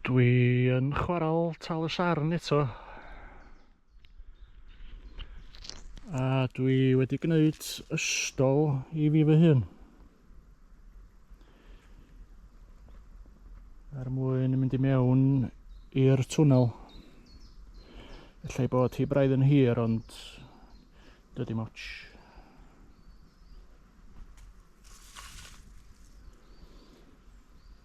Dwi yn chwarael tal y sarn eto. A dwi wedi gwneud ystol i fi fy hun. Er mwyn mynd i mewn i'r twnnel. Ellai bod hi braidd yn hir ond dydy moch.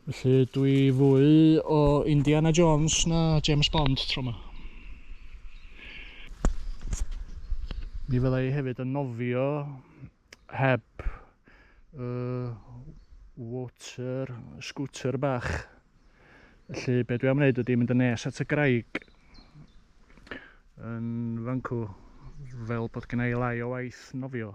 Felly dwi fwy o Indiana Jones na James Bond tro yma. Mi fydda i hefyd yn nofio heb uh, water scooter bach. Felly be dwi am wneud ydy mynd yn nes at y graig yn fan cw fel bod gen i lai o waith nofio.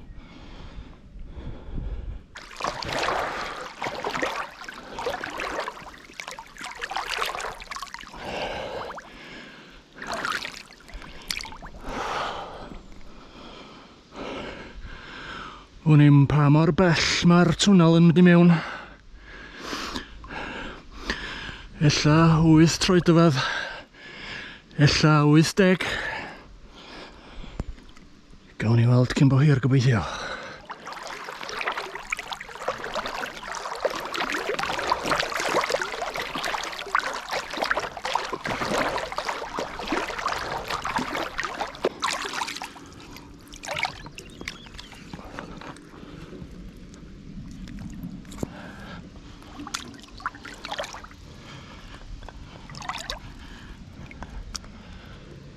Wn i'm pa mor bell mae'r twnnel yn mynd i mewn. Ella 8 troedfedd. Ella 80. Gawn ni weld cyn bo hir gobeithio.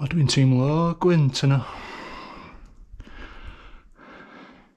O, dwi'n teimlo gwynt yna.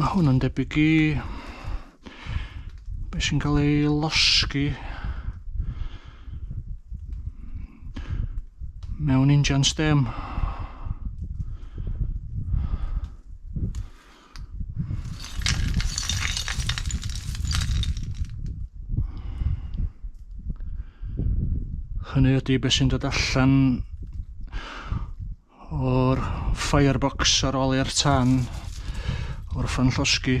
Mae hwn yn debyg i beth sy'n cael ei losgi mewn injan stem. Hynny ydy beth sy'n dod allan o'r firebox ar ôl i'r tan o'r ffan llosgi.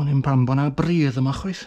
O'n i'n pan bod na bridd yma chwaith.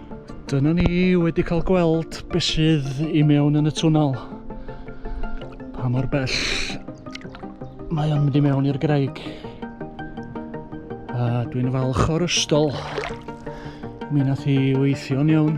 Dyna ni wedi cael gweld beth sydd i mewn yn y twnnel. Pa mor bell mae o'n mynd i mewn i'r graig. A dwi'n falch o'r ystol. Mi nath i weithio'n iawn.